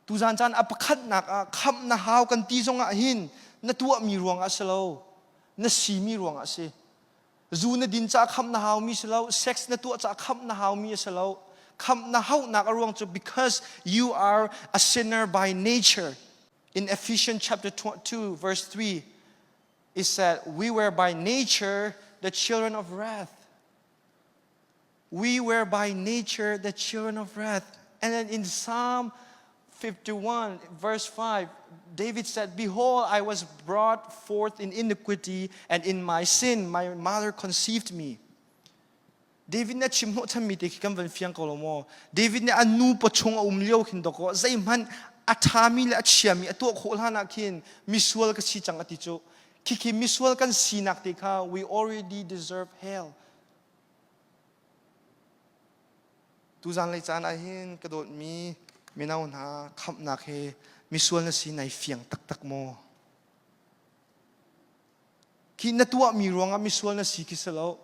Tuzan caan a pakhatnak ah khamh na hau kan ti zong ah hin na tuahmi ruangah si lo, na simi ruangah a si. Zu na din caah khamh na haumi si lo, sex na tuah caah khamh na haumi a si lo. Khamh na hauhnak a ruang cu because you are a sinner by nature. In Ephesians chapter 2 verse 3 it said, we were by nature the children of wrath. We were by nature the children of wrath. And then in Psalm 51, verse 5, David said, Behold, I was brought forth in iniquity, and in my sin my mother conceived me. David nih chim hnawh thanmi te khi kan van fiang ko lo maw. David nih a nu pa chung a um lio khin doko zeihmanh a thami le a chiami a tuah khawh hlan ah khin misual ka si cang ati cu. Khi khi misual kan sinak te kha we already deserve hell. Tuzanglei caan ahhin ka dawtmi mino hna khamhnak hi misual na si nai fiang taktak maw? Khi na tuahmi ruangah misual na si khi si lo.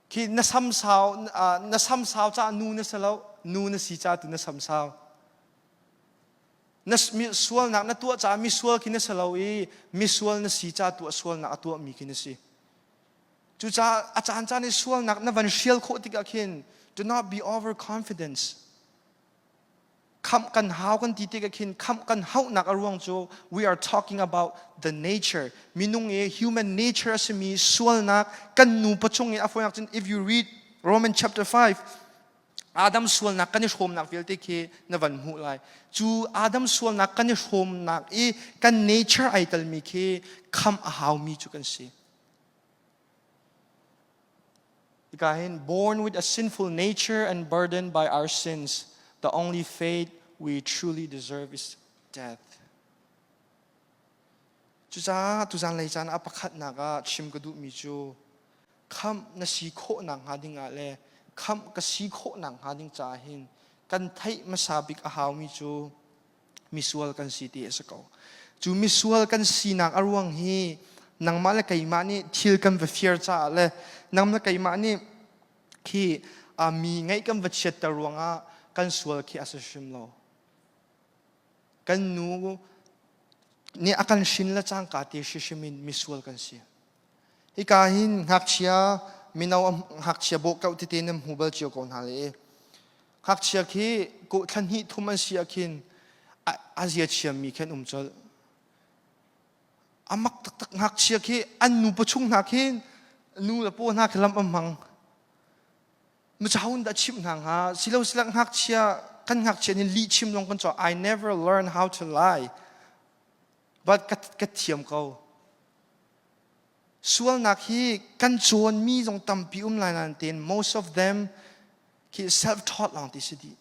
Khi na samsau na samsau ca nu na si lo, nu na si ca tu na samsau. Na sualnak na tuah caah misual khi na si lo i misual na si ca tu a sualnak a tuahmi khi na si. Cucaah a caancaan i sualnak na van hrial khawh tikah khin do not be overconfident. Khamh kan hau kan ti tikah khin khamh kan hauhnak a ruang cu we are talking about the nature. Minung i human nature a simi sualnak kan nu pacung i a fawinak cun if you read Roman chapter 5 Adam sualnak kan i hrawmnak vialte khi na van hmuh lai. Cu Adam sualnak kan i hrawmnak i kan nature ai telmi khi khamh a haumi cu kan si. Tika hin, born with a sinful nature and burdened by our sins, the only fate we truly deserve is death. Cucaah tuzan lei caan ah pakhatnak ah chim ka duhmi cu khamh na si khawhnak hnga ding ah le khamh ka si khawhnak hnga ding caah hin kan theih hmasa bik a haumi cu misual kan si ti a si ko. Cu misual kan sinak a ruang hi nangmah le keimah nih thil kan va fir caah le nangmah le keimah nih khi mi ngaih kan va chiatter ruangah kan sual khi a si hrim lo. Kan nu nih a kan hrin le cangka te hrim in misual kan si. Hika hin ngakchia mino ngakchia bawh kau tete nan hmu bal cio ko hna le Ngakchia khi kuh thla hnih thum an si ahkhin a zia thiammi khi an um colh. A mak taktak ngakchia khi an nupa chung hna khin nu le paw hna khi lam an hmang. Machahun dah chimh hna hnga silo silak ngakchia kan ngakchia nih lih chim zong kan caw I never learn how to lie but ka, ka thiam ko Sualnak hi kan cawnmi zong tampi um lai nain tein most of them khi self-taught lawng ti si dih.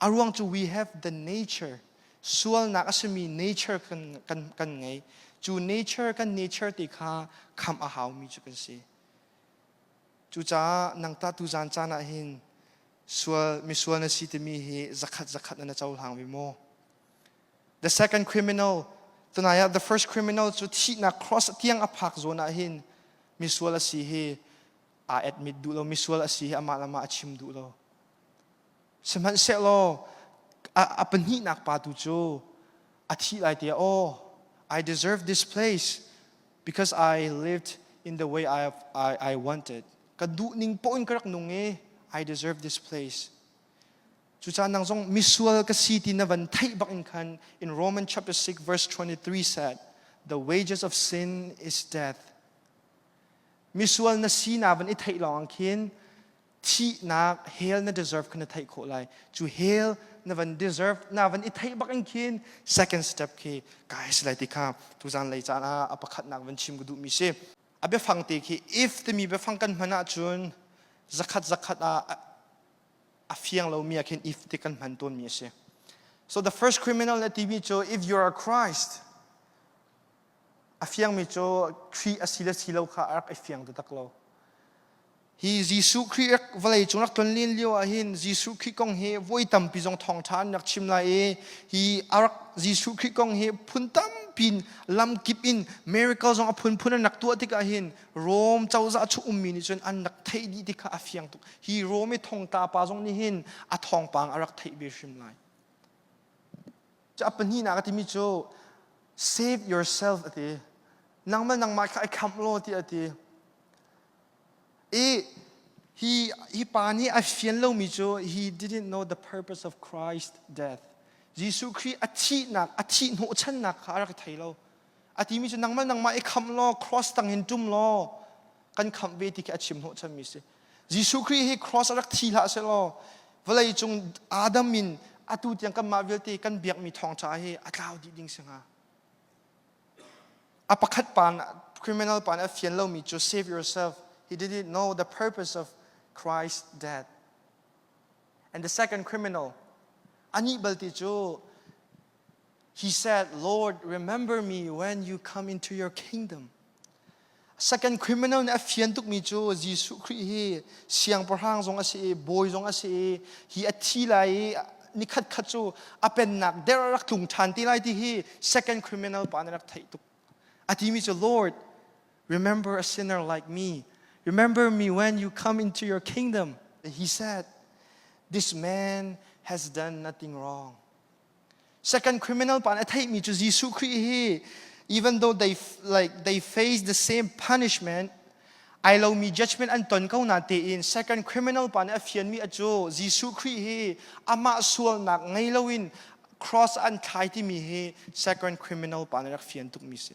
A ruang cu we have the nature. Sualnak a simi nature kan, kan, kan ngei. Cu nature kan nature ti kha kham a haumi cu kan si. Cucaah nangtah tuzan caan ah hin sual, misual na si timi hi zakhat zakhat na cohlang mi maw? The second criminal, tunai ah the first criminal cu thihnak cross tiang a phak zawn ah hin misual a si hi aa admit duh lo misual a si hi amah le amah a chim duh lo sihmanhsehlaw a, a pahnihnak pa tu cu a thih lai tiah oh I deserve this place because I lived in the way I, I, I wanted ka duh ning poin ka rak nung i I deserve this place Cucaan nang zong misual ka si ti na van theih bak in khan in Roman chapter 6 verse 23 said, The wages of sin is death. Misual na si na van i theih lawng khin thihnak hell na deserve kha na theih khawh lai cu hell na van deserve na van i theih bak in khin second step khi kai si lai ti kha tuzan lei caan ah a pakhatnak van chim ka duh mi si a biafang te khi if timi biafang kan hman ahcun zakhat zakhat ah a fiang lomi ah khin if ti kan hman tawnmi a si. So the first criminal na timi cu if you are Christ a fiangmi cu Khrih a si le si lo kha a rak i fiang taktak lo. Hi Jesuh Khrih vawlei cung rak tlonlin lio ah hin Jesuh Khrih kong hi voi tampi zong thawngtha an rak chim lai i hi Jesuh Khrih kong hi phun tampi lamkip in miracle zong a phunphun an rak tuah tikah hin Rom cozah a chung ummi nih cun an rak theih dih ti kha a fiang tuk. Hi Rom i thongtla pa zong nih hin a thawngpang a rak theih ve hrim lai. A pahnihnak a timi cu, save yourself a ti. Nangmah nangmah kha i khamh law ti a ti. I hi, hi pa nih a fian lomi cu, he didn't know the purpose of Christ's death. Jesuh Khrih a thihnak, a thih hnawhchannak kha a rak thei lo. a timi cu nangmah nangmah i khamh law cross tangin ṭum law kan khamh ve ti khi a chim hnawh chanmi si Jesuh Khrih hi cross a rak thi hlah seh law vawlei cung Adam in atu tiang kanmah vialte kan biakmi thawngṭha hi a tlau dih ding si hnga a pakhat pa criminal pa nih a fian lomi cu save yourself he did it know the purpose of Christ's death and the second criminal anih balte cu He said, Lord, remember me when you come into your kingdom. Second criminal nih a fian tukmi cu Jesuh Khrih hi siangpahrang zong a si i bawi zong a si i hi a thi lai i nikhat khat cu a pennak der rak tlung ṭhan ti lai ti hi second criminal pa nih rak theih tuk. A timi cu Lord, remember a sinner like me. Remember me when you come into your kingdom. He said, This man has done nothing wrong. Second criminal pa nih a theihmi cu Jesuh Khrih hi even though they like they face the same punishment ai lomi judgment an ton ko na tein second criminal pa nih a fianmi a cu Jesuh Khrih hi amah sualnak ngei loin cross an thlai timi hi second criminal pa nih rak fian tukmi si.